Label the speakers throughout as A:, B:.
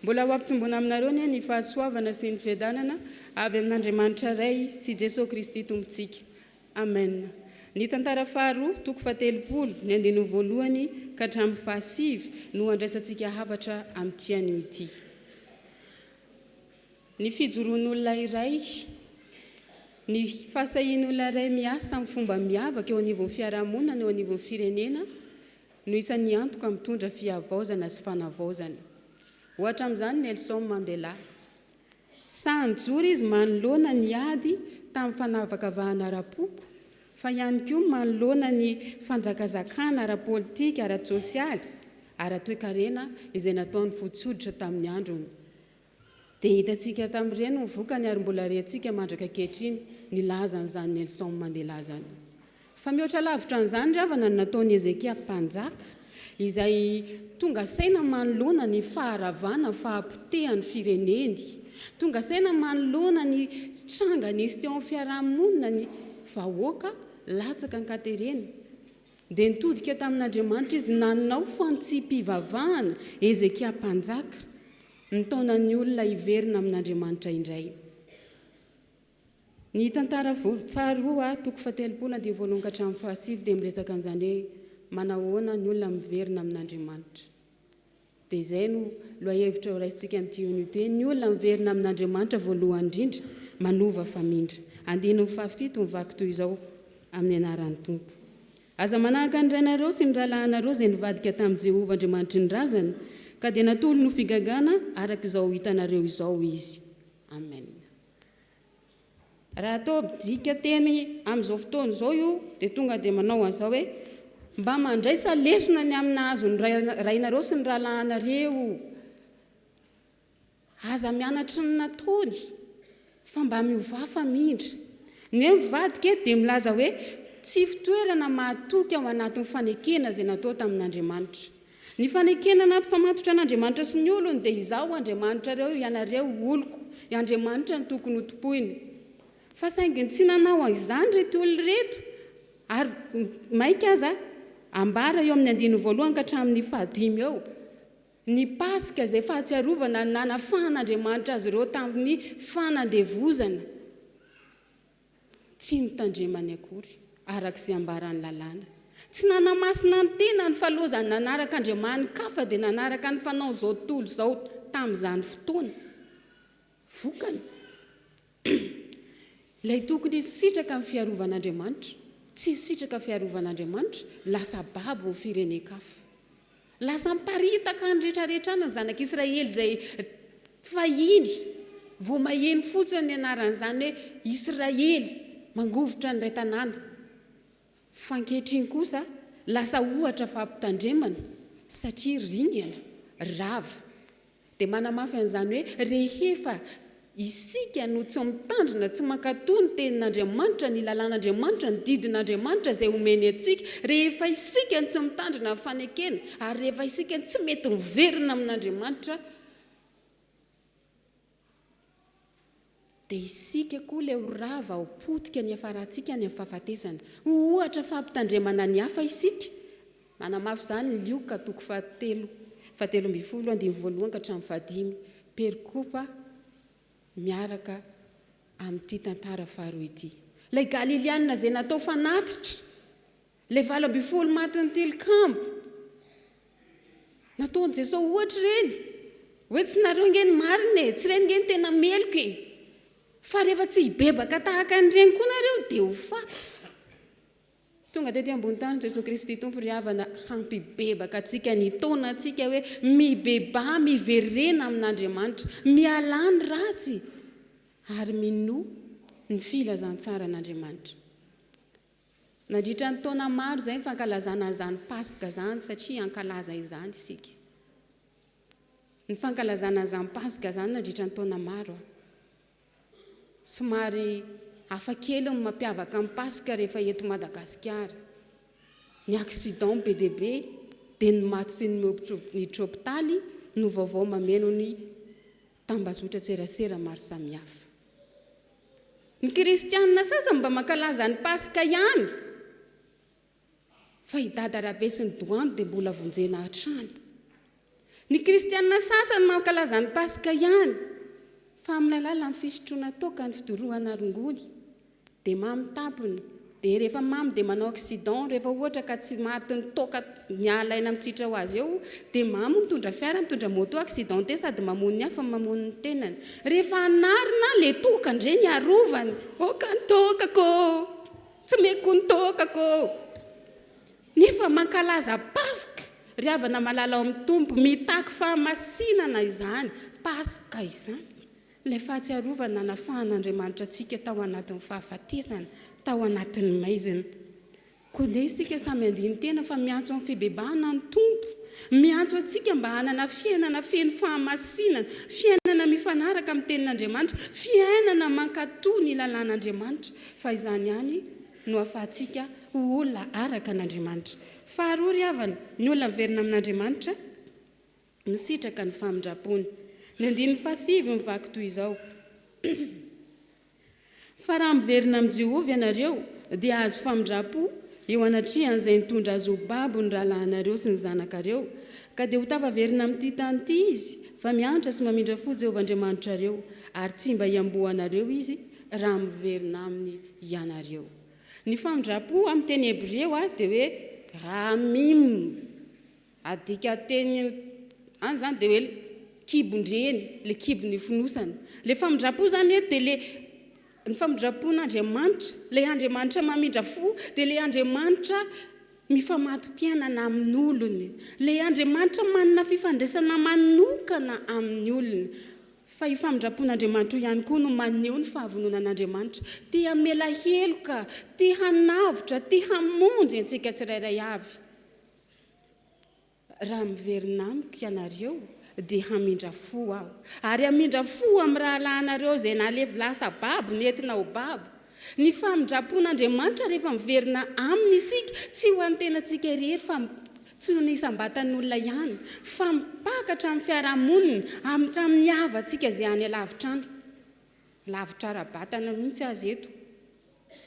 A: Mbola ho hampitombona aminareo anie ny fahasoavana sy ny fiadanana avy amin'Andriamanitra Ray sy Jesoa Kristy Tompontsika. Amen. Ny tantara faharoa, toko fahatelopolo, ny andininy voalohany ka hatramin'ny fahasivy no handraisantsika hafatra amin'ity anio ity. Ny fijoroan'olona iray, ny fahasahian'olona iray miasa amin'ny fomba miavaka eo anivon'ny fiarahamonina na eo anivon'ny firenena no isan'ny antoka mitondra fihavaozana sy fanavaozana. Ohatra amin'izany Nelson Mandela. Sahy nijoro izy manoloana ny ady tamin'ny fanavakavahana ara-poko, fa ihany koa manoloana ny fanjakazakana ara-politika, ara-tsosialy, ara-toekarena izay nataon'ny fotsy hoditra tamin'ny androny. Dia hitantsika tamin'ireny ny vokany ary mbola rehatsika mandraka ankehitriny ny lahazan'izany Nelson Mandela izany. Fa mihoatra lavitra an'izany ry havana ny nataon'i Hezekia mpanjaka izay tonga saina manoloana ny faharavana, fahapotehan'ny fireneny, tonga saina manoloana ny tranga nisy teo amin'ny fiaraha-monina ny vahoaka latsaka ankaterena. Dia nitodika tamin'Andriamanitra izy nanao fantsipivavahana, Hezekia mpanjaka, nitaona ny olona hiverina amin'Andriamanitra indray. Ny tantara faharoa, toko fahatelopolo andininy voalohany ka hatramin'ny fahasivy dia miresaka an'izany hoe manahoana ny olona miverina amin'Andriamanitra. Dia izay no lohahevitra horaisintsika amin'ity onu ity, ny olona miverina amin'Andriamanitra voalohany indrindra, manova famindra. Andininy fahafito mivaky toy izao, Amin'ny anaran'ny Tompo. Aza manahaka ny rainareo sy ny rahalahinareo izay nivadika tamin'i Jehovah Andriamanitry ny razany, ka dia natolony ho figagana araka izao hitanareo izao izy. Amena. Raha toa midika teny amin'izao fotoana izao io dia tonga dia manao an'izao hoe, Mba mandraisa lesona ny amin'ny nahazo ny rainareo sy ny rahalahinareo. Aza mianatry ny nataony fa mba miovà famindra. Ny hoe mivadika dia milaza hoe tsy fitoerana mahatoky ao anatin'ny fanekena izay natao tamin'Andriamanitra. Ny fanekena ny anti-pamatotra an'Andriamanitra sy ny olony dia Izaho Andriamanitrareo, ianareo oloko, i Andriamanitra no tokony ho tompoina. Fa saingy tsy nanao an'izany ireto olona ireto, ary mainka aza ambara eo amin'ny andininy voalohany ka hatramin'ny fahadimy eo, ny Paska izay fahatsiarovana ny nanafahan'Andriamanitra azy ireo tamin'ny fanandevozana. Tsy notandremany akory, araka izay ambaran'ny Lalàna. Tsy nanamasina ny tenany fa loza nanaraka andriamani-kafa dia nanaraka ny fanao izao tontolo izao tamin'izany fotoana. Vokany, ilay tokony hisitraka ny fiarovan'Andriamanitra, tsy nisitraka fiarovan'Andriamanitra, lasa babo ny firenen-kafa. Lasa niparitaka ny retraretrana ny zanak'Israely izay fahiny vao maheno fotsiny ny anaran'izany hoe Israely mangovitra ny iray tanàna. Fa ankehitriny kosa lasa ohatra fampitandremana satria ringana, rava. Dia manamafy an'izany hoe rehefa isika no tsy mitandrina, tsy mankatò ny Tenin'Andriamanitra, ny lalàn'Andriamanitra, ny didin'Andriamanitra izay omeny antsika, rehefa isika no tsy mitandrina ny fanekena, ary rehefa isika no tsy mety miverina amin'Andriamanitra, Dia isika koa ilay ho rava ao potika ny hiafarantsika any amin'ny fahafatesana. Ho ohatra fampitandremana ny hafa isika. Manamafy izany ny Lioka toko fahatelo, fahatelo ambin'ny folo, andininy voalohany ka hatramin'ny fahadimy. Perikopa miaraka amin'ity tantara faharoa ity. Ilay Galilianina izay natao fanatitra. Ilay valo ambin'ny folo matin'ny tilikambo. Nataon'i Jesosy ohatra ireny. Hoe tsy nareo ange ny marina e, tsy ireny ange ny tena meloka e. Fa rehefa tsy hibebaka tahaka an'ireny koa nareo dia ho faty. Tonga tety ambony tany Jesosy Kristy Tompo ry havana hampibebaka antsika, nitaona antsika hoe mibebaha miverena amin'Andriamanitra, mialà ny ratsy ary minoa ny filazantsaran'Andriamanitra. Nandritra ny taona maro izay ny fankalazana an'izany Paska izany satria hankalaza izany isika. Ny fankalazana an'izany Paska izany nandritra ny taona maro. Somary hafa kely ny mampiavaka ny Paska rehefa eto Madagasikara. Ny accident be dia be dia ny maty sy ny miditra hopitaly no vaovao mameno ny tambazotran-tserasera maro samihafa. Ny kristiana sasany mba mankalaza ny Paska ihany, fa i Dada Rabe sy ny Doany dia mbola vonjena hatrany. Ny kristiana sasany mankalaza ny Paska ihany, fa amin'ny alalan'ny fisotroana toaka ny fidorohana rongony. Dia mamy tampony. Dia rehefa mamy dia manao accident, rehefa ohatra ka tsy maty ny toaka mialaina mitsitra ho azy eo, dia mamy mitondra fiara, mitondra moto accidenté sady mamono ny hafa no mamono ny tenany. Rehefa hanarina le toaka ndre ny arovany, oka ny toakako oo, tsy meko ny toakako oo. Nefa mankalaza Paska ry havana malala ao amin'ny Tompo, mitaky fahamasinana izany Paska izany. Ilay fahatsiarovana nanafahan'Andriamanitra antsika tao anatin'ny fahafatesana, tao anatin'ny maizina. Koa dia isika samy handini-tena fa miantso amin'ny fibebahana ny Tompo. Miantso antsika mba hanana fiainana feno fahamasinana, fiainana mifanaraka amin'ny Tenin'Andriamanitra, fiainana mankatò ny lalàn'Andriamanitra, fa izany ihany no ahafahantsika ho olona araka an'Andriamanitra. Faharoa ry havana, ny olona miverina amin'Andriamanitra, misitraka ny famindram-pony. Ny andininy fahasivy mivaky toy izao, Fa raha miverina amin'i Jehovah ianareo, dia hahazo famindram-po eo anatrehan'izay nitondra azy ho babo ny rahalahinareo sy ny zanakareo, ka dia ho tafaverina amin'ity tany ity izy, fa miantra sy mamindra fo Jehovah Andriamanitrareo, ary tsy mba hiamboanareo izy raha miverina aminy ianareo. Ny famindram-po amin'ny teny hebreo dia hoe ra mim. Adika teny any zany dia hoe kibon-dreny, le kibony fonosana. Le famindram-po zany eto dia le ny famindram-pon'Andriamanitra, le Andriamanitra mamindra fo dia le Andriamanitra mifamato-piainana amin'olony, le Andriamanitra manana fifandraisana manokana amin'ny olony. Fa io famindram-pon'Andriamanitra io ihany koa no maneho ny fahavononan'Andriamanitra te hamela heloka, te hanavotra, te hamonjy antsika tsirairay avy. Raha miverina amiko ianareo, dia hamindra fo aho, ary hamindra fo amin'ny rahalahinareo izay nalevy lasa babo nentina ho babo. Ny famindram-pon'Andriamanitra rehefa miverina Aminy isika, tsy ho an'ny tenantsika irery fa tsy ho ny isam-batan'olona ihany, fa mipaka hatramin'ny fiarahamonina hatramin'ny havantsika izay any alavitra any. Lavitra ara-batana mihitsy aza eto,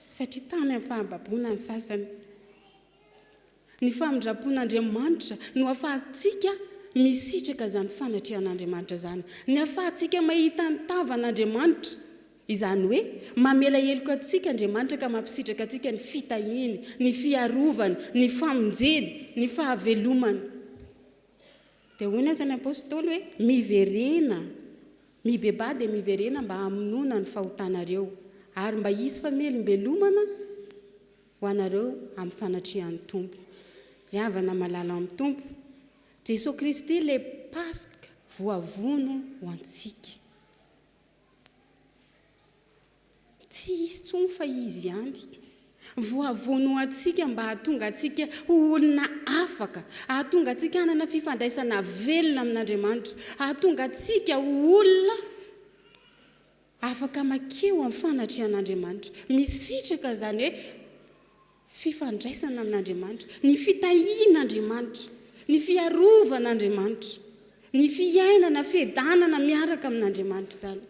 A: satria tamy amin'ny fahababoana ny sasany. Ny famindram-pon'Andriamanitra no ahafahantsika misitraka izany fanatrehan'Andriamanitra izany. Ny ahafahantsika mahita ny tavan'Andriamanitra, izany hoe mamela heloka antsika Andriamanitra ka mampisitraka antsika ny fitahiany, ny fiarovany, ny famonjeny, ny fahavelomany. Dia hoy ny asan'ny apostoly hoe, Miverena, mibebaha dia miverena mba hamonoana ny fahotanareo, ary mba hisy famelombelomana, Ho anareo amin'ny fanatrehan'ny Tompo. Ry havana malala amin'ny Tompo, Jesoa Kristy ilay Paska voavono ho antsika. Tsy hisy intsony fa Izy ihany. Voavono ho antsika mba hahatonga antsika ho olona afaka, hahatonga antsika hanana fifandraisana velona amin'Andriamanitra, hahatonga antsika ho olona Afaka makeo amin'ny fanatrehan'Andriamanitra. Misitraka izany hoe fifandraisana amin'Andriamanitra, ny fitahian'Andriamanitra, ny fiarovan'Andriamanitra, ny fiainana, fiadanana miaraka amin'Andriamanitra izany.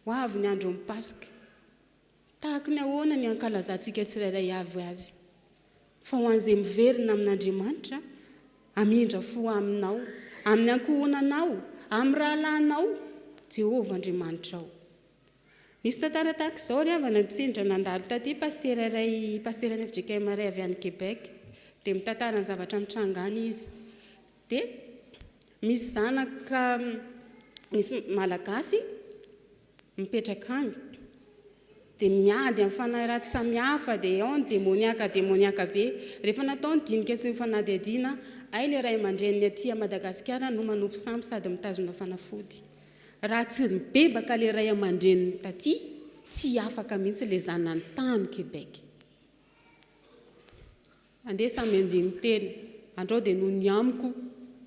A: Ho avy ny andron'ny Paska. Tahaka ny ahoana ny hankalazantsika tsirairay avy azy? Fa ho an'izay miverina amin'Andriamanitra, hamindra fo aminao, amin'ny ankohonanao, amin'ny rahalahinao, Jehovah Andriamanitrao. Misy tantara tahaka izao ry havana, tsindry nandalo taty pasitera iray, pasitera any fjkm iray avy any Québec. Dia mitantara ny zavatra mitranga any izy. Dia misy zanaka, misy Malagasy, mipetraka any dia miady amin'ny fanahy ratsy samihafa dia ao ny demoniaka demoniaka be rehefa natao ny dinika sy ny fanadihadiana hay ilay ray aman-dreniny aty Madagasikara no manompo sampy sady mitazona fanafody raha tsy mibebaka ilay ray aman-dreniny taty tsy afaka mihitsy ilay zanany tany Québec. Andeha samy andiny tena. Andrao dia noho ny amiko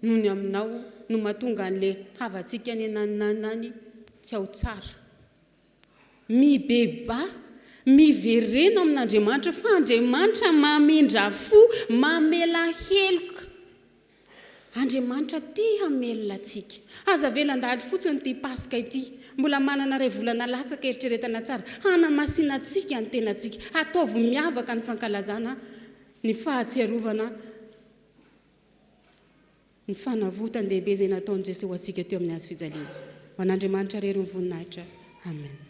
A: noho ny aminao no mahatonga an'le havantsika any anananana any tsy ao tsara. Mibebaha, miverena amin'Andriamanitra fa Andriamanitra mamindra fo, mamela heloka. Andriamanitra tia hamelona antsika. Aza avela handalo fotsiny ity Paska ity. Mbola manana iray volana latsaka eritreretana tsara hanamasinantsika ny tenantsika. Ataovy miavaka ny fankalazana ny Fahatsiarovana ny fanavotan-dehibe izay nataon'i Jesoa ho antsika teo amin'ny Hazo fijaliana. Ho an'Andriamanitra irery ny voninahitra. Amen.